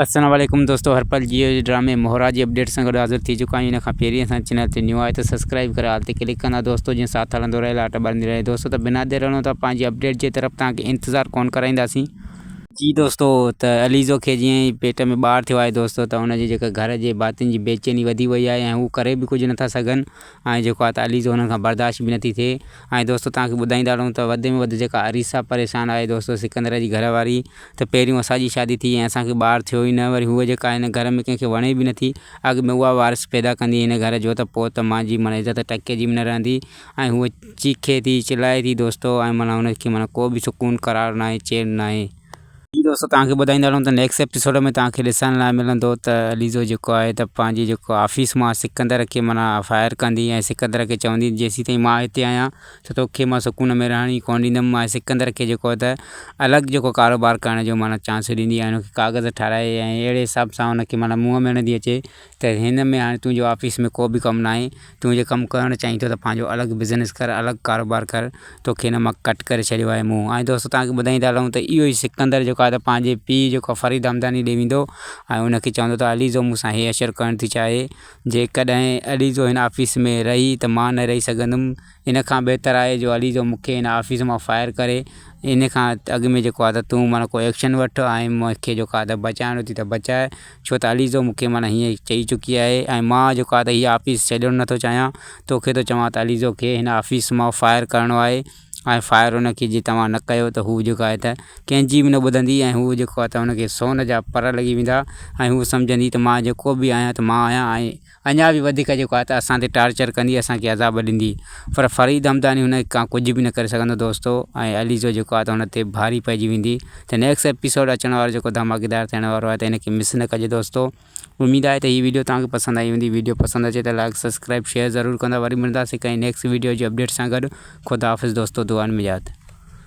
السلام عليڪم دوستو هر پل جيو جي ڊرامي مهرا جي اپڊيٽ سان گڏ حاضر ٿي چڪا آهيون ان کان پهرين اسان جي چينل تي نيو آهي ته سبسڪرائيب ڪري آل تي ڪلڪ ڪندا دوستو جيئن ساٿ هلندو رهي لاٽ ٻرندي رهي دوستو ته بنا دير هلون ٿا پنهنجي اپڊيٽ جي طرف توهان کي انتظار ڪونه ڪرائينداسين جي دوستو ته عليزو کي جيئن ئي پيٽ ۾ ٻار ٿيو آهي دوستو ته ان جي جيڪا گهر جي ڀاتين جي بيچيني وڌي وئي آهي ۽ هو ڪري به ڪجهه نٿا سگهن ۽ جيڪو آهي ته علي جو هنن کان برداشت به نٿي ٿئي ۽ دوستو توهان کي ٻڌائيندا رهون ته وڌ ۾ وڌ جيڪا عريسا پريشان آهي دوستو سڪندر جي گهر واري ته پهريون اسان جي شادي ٿي ۽ اسان کي ٻار ٿيو ئي نه وري هوء جيڪا آهي هن گهر ۾ ڪنهن کي وڻي به نٿي اڳ ۾ اها وارث پيدا ڪندي هن گهر جو ته پوء ته مانجي معنيٰ عزت ٽڪي جي به نه رهندي ۽ هوء چيخي ٿي چلائي ٿي دوستو ۽ معنيٰ هن کي معنيٰ ڪو به سڪون قرار ناهي چين ناهي. جي دوستو توهان کي ٻڌائيندا رهون ته نيڪسٽ ايپيسوڊ ۾ توهان کي ڏسڻ لاء ملندو ته عليزو جيڪو آهي ته پنهنجي جيڪو آفيس مان سڪندر کي معنيٰ فائر ڪندي ۽ سڪندر کي چوندي جيسين تائين مان هتي آهيان ته توکي مان سڪون ۾ رهڻ ئي ڪونه ڏيندم ۽ سڪندر کي جيڪو آهي ته الڳ جيڪو ڪاروبار ڪرڻ جو معنيٰ چانس ڏيندي ۽ ان کي ڪاغذ ٺاهرائي ۽ اهڙي حساب سان ان کي معنيٰ منهن ۾ هڻندي اچي ته هن ۾ هاڻي تنهنجو آفيس ۾ ڪو به ڪم ناهي، تون جي ڪم ڪرڻ چاهين ٿو ته پنهنجو الڳ بزنس ڪر، الڳ ڪاروبار ڪر، توکي هن مان ڪٽ ڪري ڇڏيو آهي مون. ۽ دوستو توهان کي ٻڌائيندا هلون ته اهو ئي سڪندر جيڪو آهي ته پنهنجي پيء جيڪو فريد همداني ڏي ويندو ۽ ان کي چوندو ته عليزو مون سان هي اشر ڪرڻ ٿي چاهي، جيڪڏهن عليزو هن آفيس ۾ رهي ته مان نه رهي سگهندم، ان کان بهتر آهي جو علي تو مون کي ان آفيس مان فائر ڪري ان کان اڳ ۾ جيڪو آهي ته تون معنيٰ ڪو ايڪشن وٺ ۽ مون کي جيڪو آهي ته بچائڻو اٿئي ته بچاء ڇو ته علي تو مون کي معنيٰ هيئن چئي چڪي آهي ۽ مان جيڪو آهي ته هي آفيس ڇڏڻ نٿو چاهيان تو کي ٿو چوان ته علي تو کي هن آفيس مان فائر ڪرڻو آهي ۽ فائر ان کي جي توهان نه ڪيو ته هو جيڪو آهي ته ڪنهن جي به نه ٻڌندي ۽ هو جيڪو آهي ته هن کي سون جا پر لڳي ويندا ۽ هو سمجهندي ته مان جيڪو به آهيان ته مان آهيان ۽ اڃا به وڌيڪ جيڪو آهي ته اسان تي ٽارچر ڪندي اسان کي عذاب ڏيندي پر فريد همداني هن کان ڪجهه به نه ڪري سگهندو دوستو ۽ عليزو جيڪو آهي ته هن تي ڀاري پئجي ويندي ته نيڪس ايپيسوڊ اچڻ وارو جيڪو ڌماڪيدار ٿيڻ وارو آهي ته هن کي مس نه ڪجي دوستو اميد آهي ته هي ويڊيو توهان کي پسند آئي هوندي ويڊيو پسند اچي ته لائڪ سبسڪرائب شيئر ضرور ڪندا وري ملنداسي ڪنهن نيڪس ويڊيو جي اپڊيٽ سان گڏ خدا حافظ دوستو دعائن ۾ ياد